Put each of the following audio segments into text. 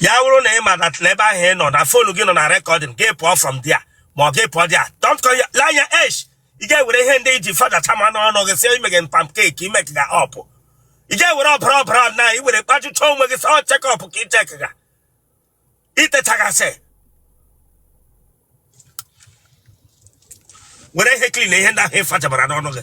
ya wụrụ na ị ma that na ebe ahụ ị nọ na fonu gị nọ na recording gị pụọ from there ma ọ gị pụọ there don't call ya lee anya esh ị ga-ewere ihe ndị ị ji fachama n'ọnụ gị si i me pancake i make ga up ị ga-ewere ọbara ọbara na i were kpajucha onwe gị sọ check up ka ị check ga itechagasị were ihe clean ihe ndị ahụ ị fachabara n'ọnụ gị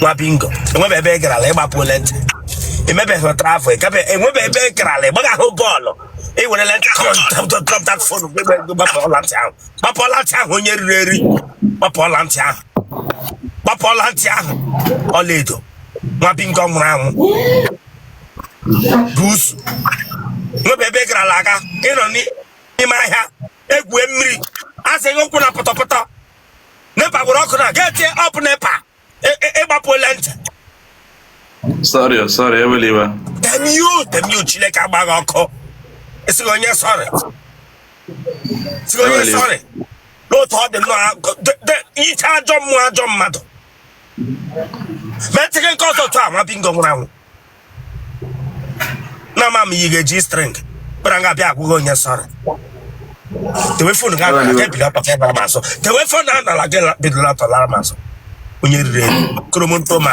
nwa bingo enwebe ebe ị garala ị gbapụ ọla ntị emebeghị travel ebe enwebe ebe ị garala ịgbaghị ahụ bọọlụ i were ọla ntị kọntatọpụta fonu gbapụ ọla ntị ahụ gbapụ ọla ntị ahụ onye riri eri gbapụ ọla ntị ahụ gbapụ ọla ntị ahụ ọlaedo nwa bingo nwụrụ anwụ buusu nwebe ebe ị garala aga ịnọ n'ime ahịa egwue mmiri asịghị ụkwụ na pọtọpọtọ nepa gwụrụ ọkụ na gị eti up nepa ị gbapụ ọla ntị sorry sorry ewela iwe temio temio chineke agba gị ọkụ asị gị onye sorry sị gị onye sorry n'otu ọ dị nnọọ iche ajọ mmụọ ajọ mmadụ metịghị nke ọzọ tụ a nwa bingo nwụrụ anwụ na ama m yi ga-eji string kpara nga bịa agwa gị onye sorry tewe fon ga anara gị bido atọ lara m azụ tewe fon a nara gị bido atọ lara m azụ onye riri eri koromonto ma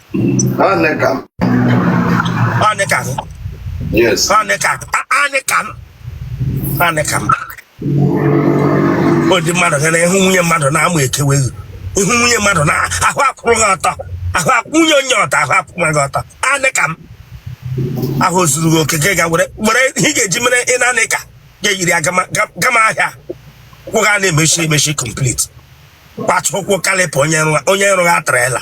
Anekan. Anekan. Yes. Anekan. Anekan. Anekan. Ọ dị mmadụ gara ịhụ nwunye mmadụ na amụ ekewe gị ị hụ nwunye mmadụ na ahụ akwụrụ gị ọtọ ahụ akwụnye onye ọtọ ahụ akwụnwe gị ọtọ anị ka m ahụ zuru gị oke gị ga were were ihe ị ga-eji mere ị na-anị ka ga-eyiri gama ahịa kwụ ga na-emechi emechi complete kwatụ ụkwụ kalịpụ onye rụrụ atrela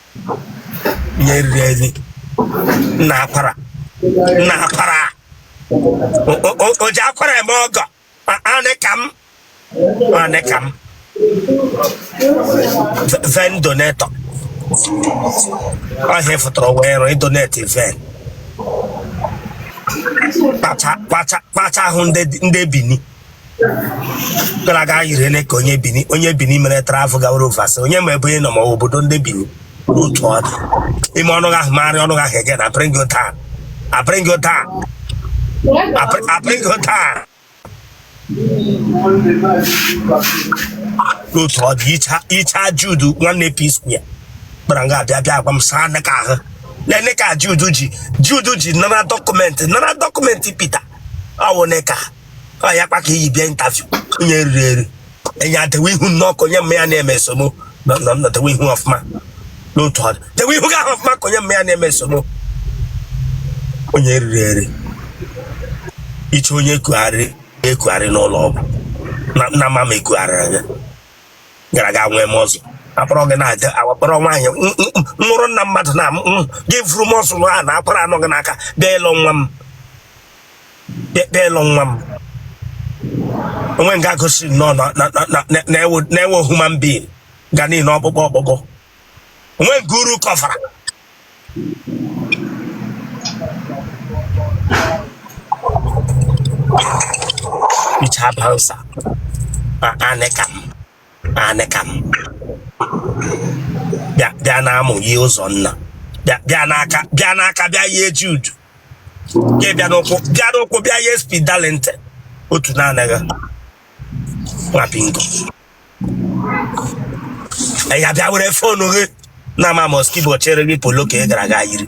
onye riri eri nna akwara nna akwara O- o- o- o ji akwara eme ọgọ A- anị ka m anị ka m V- vein donator ọhịa fụtara wee rụọ ịdonate vein kpacha kpacha kpacha ahụ ndị ndị bini gara aga anyị rele ka onye bini onye bini mere travel gawara ofesi onye ma ebe ị nọ ma ọ bụ obodo ndị bini otu ọ dị ime ọnụ ahụ marị ọnụ ahụ ege na apịrịngị ụta apịrịngị ụta apịrịngị ụta n'otu ọ dị icha icha Jude nwanne p square kpara nga abịa bịa agwa m saa nne ka ahụ nene ka Jude ji Jude ji nara document nara document Peter ọwụ nne ka ọ ya kpa ka iyi bịa interview onye eriri eri enye adewe ihu n'ọkụ onye mma ya na-eme esomo na na- na dewe ihu ọfụma n'otu ọ dị dewe ihu gị ahụ ọfụma ka onye mma ya na-eme esomo onye eriri eri iche onye ekugharị ekugharị n'ụlọ ọgwụ na nna mama ma ekugharịrị gị gara ga nwee m ọzọ akpọrọ gị na-aga akpọrọ nwaanyị m- m- m- nwụrụ nna mmadụ na m- m- gị vuru muscle na a na akwara nọ gị n'aka bịa ịlụ nwa m bịa bịa ịlụ nwa m onwe nga gosi nnọọ na ị wụ human being nga niile ọkpụkpụ ọkpụkpụ onwe nke uru kọvara icha bansa ma anịka m anị ka m bịa bịa n'amụ yie Ụzọnna bịa bịa n'aka bịa n'aka bịa yie Jude bịa n'ụkwụ bịa n'ụkwụ bịa yie Speed Darlington otu na-anaghị nwa bingo ya bịa were fonu gị na mama skibo chere gị polo ka ị gara aga yiri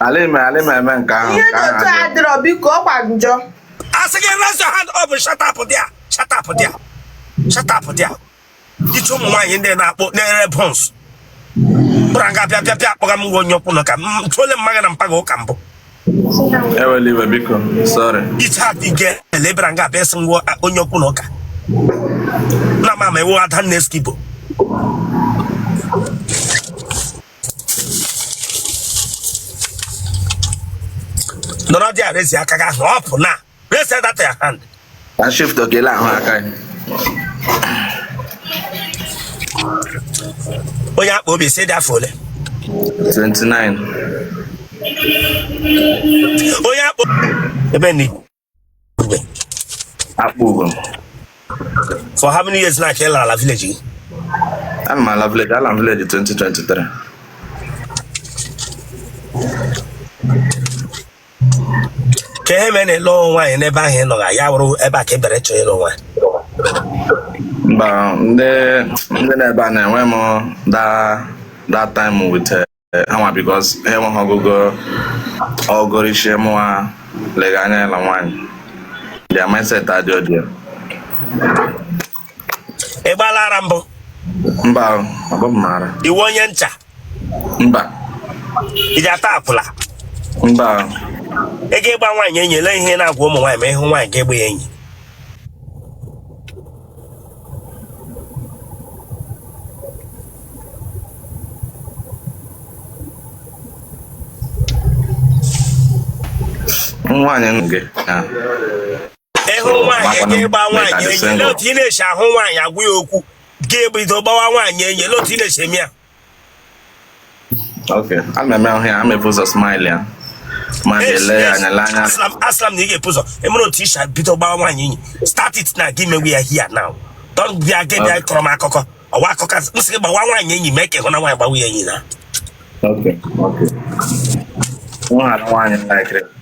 Ala ime ala ime eme nke ahụ. Ihe dị otu a adịrọ biko ọkwa njọ. Asị gị raise your hand up shut up there shut up there shut up there. Iche ụmụ nwaanyị ndị na-akpọ na-ere buns. Kpụrụ nga bịa bịa bịa akpọga m nwa onye okwu n'ụka m tụọle mma gị na mpa gị ụka mbụ. Ewele iwe biko sorry. Iche ha dị gị ele bịara nga bịa sị nwa onye okwu n'ụka. Na mama ewu ada nne skibo. nọrọ dị arezi aka gị ahụ up na raise that your hand na shift okele ahụ aka ya onye akpa obi sị ị dị afọ ole 29 onye akpa ebe ni Igwe. Akpụgo for how many years now ka ị lara ala village gị ana m ala village ala m village 2023 ka ihe mere na ịlụ nwaanyị n'ebe ahụ ị nọga ya wụrụ ebe a ka ị bịara ịchọ ịlụ nwaanyị mba ndị ndị nọ ebe a na-enwe m that that time with eh, eh, ha nwa because ha enweghị ọgụgụ ọgụrụ ishi mụwa lega anya ya na nwaanyị their mindset adị ọdị ya ị gbaala ara mbụ mba o, ọ bụ m maara ị wụ onye ncha mba ị ji ata akwụla mba o. ị ga-ịgba nwaanyị enyi ele ihe na-agwa ụmụ nwaanyị ma ị hụ nwaanyị ga-agba ya enyi nwaanyị nụ gị ị hụ nwaanyị gị gba nwaanyị enyi otu ị na-esi ahụ nwaanyị agwa ya okwu gị ebido gbawa nwaanyị enyi otu ị na-esi eme ya ok a na-eme ahụ ya a m ebu ụzọ smile ya ma na-ele ya anya le anya aslam aslam na ị ga-ebu ụzọ emere otu i shi bido gbawa nwaanyị enyi start it now gị mewe ya here now don't bịa gị bịa kọrọ m akụkọ ọwa akụkọ asị m sị gị gbawa nwaanyị enyi mee ka ị hụna nwaanyị gbawa ya enyi na ok ok m hụrụ nwaanyị laikiri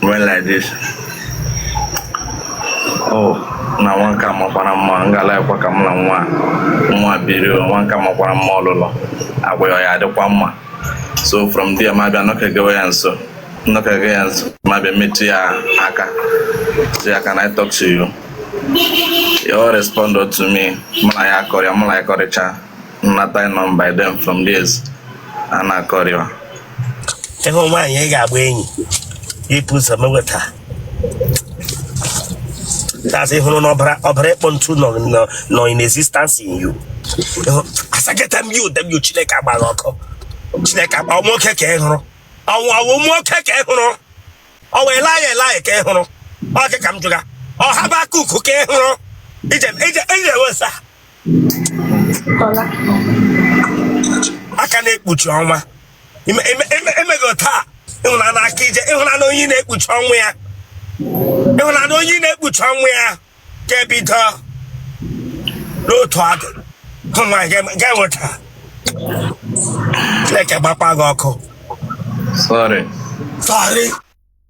When like this. Oh, na nwa nke a makwara mma m ga-alikekwa ka m na nwa nwa biri nwa nke a makwara mma ọlụlụ agwa ya ya adịkwa mma so from there m abịa nọkegewe ya nso nọkege ya nso m abịa metụ ya aka sị ya can I talk to you ya respond to me mụ na ya akọrịa mụ na ya kọrịcha m nata number them from there a na-akọrịwa ị hụ nwaanyị ị ga-agba enyi ibu ụzọ meweta that's ị hụrụ na ọbara ọbara ịkpọ ntu nọ nọ nọ in existence in you Ịhụ- asaketa m ya ụdem yo chineke agba gị ọkụ chineke agba ọnwa oke ka ị hụrụ ọnwa ọnwa ụmụ oke ka ị hụrụ ọnwa elaya elaya ka ị hụrụ ọke ka m jụga ọhaba kuku ka ị hụrụ ije ije ije wesa aka na-ekpuchi ọnwa Ime- ime- ime- emego taa ịhụnanya aka ije ị hụna nwaanyị na-ekpuchi onwe ya ị hụna nwaanyị na-ekpuchi onwe ya ga-ebido n'otu adị hụ nwaanyị ga- ga-enweta Chineke gbakwa gị ọkụ Sorry. sọrị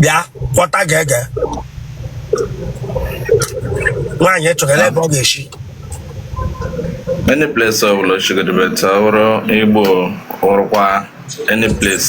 bịa kpọta ga-ege nwaanyị chọrọ ebe ọ ga-esi any place ọ bụla chigodebe ta wụrụ igbo wụrụkwa any place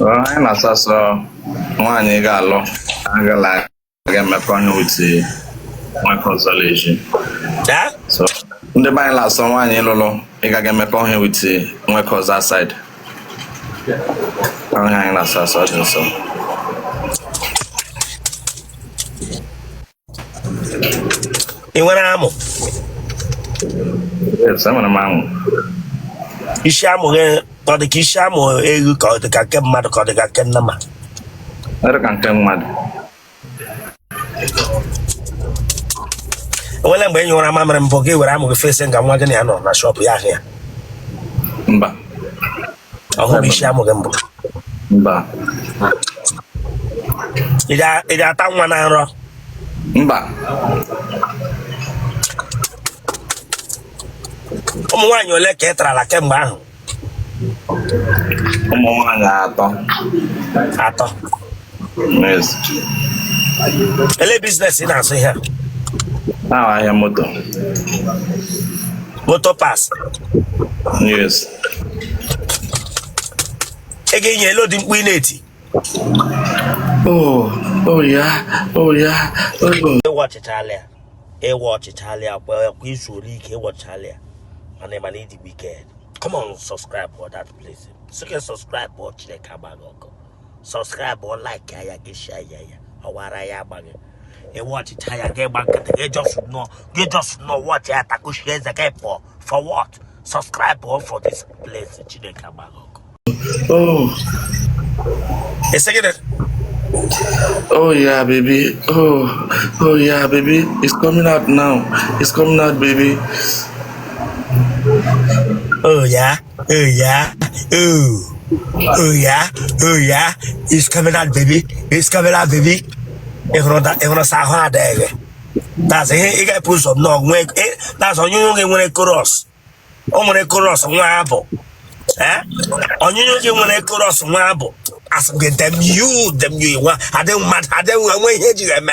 Ọ, anyị na-asụ asụ nwaanyị ị ga-alụ agala aga emekọ ihe with nwoke ọzọ leji Eh? so ndị be anyị na-asọ nwaanyị ị lụlụ ịga aga emekọ ihe with nwoke ọzọ outside ọ ihe anyị na-asọ asọ ọ dị nsọ ị nwere amụ Yes, enwere m amụ. isi amụ gị ọ dị ka isi amụ eghu ka ọ dị ka nke mmadụ ka ọ dị ka nke nnama Ọ dị ka nke mmadụ. enwere mgbe ị nyụwara mamịrị mbụ gị were amụ gị fesi nga nwa gị na ya nọ na shọpụ ya ahụ ya Mba. ọ hụrụbu isi amụ gị mbụ mba ị ga- ị ga-ata nwa na nrọ mba ụmụ nwaanyị ole ka ị tarala kemgbe ahụ ụmụ nwaanyị atọ atọ ele biznes ị na-azụ ihe a ahịa moto moto parts yes ị ga-enye ele ụdị mkpu ị na-eti oh oh yeah oh yeah ị wọchịchala ya ị wọchịchala ya kwa izu ole ike ị wọchịchala ya mana ị mana ị dị wicked come on subscribe for that place so can subscribe for chineke agba gị ọkụ sọskraịbụ laiki ya gị shia ya ya ọwara ya agba gị ị wọchịcha ya gị gba nkịtị gị jọs nọ gị jọs nọ wọchị ya takushi eze gị pụọ for what subscribe o for this place chineke agba gị ọkụ oh Oh yeah, baby. Oh, oh yeah, baby. It's coming out now. It's coming out, baby. Oh yeah. Oh yeah, oh, oh yeah, oh yeah. It's coming out, baby. It's coming out, baby. Ị hụrụ da- ị hụrụ sa ahụ adịghị. That's ihe ị ga-epu ụzọ nnọọ nwee eh, that's ọnyụnyụ gị nwere chorus. O nwere chorus nwa abụ. Eh? Ọnyụnyụ gị nwere chorus nwa abụ. Asị m gị damn you damn you nwa adịghị mmadụ adịghị nwa nwe ihe eji eme.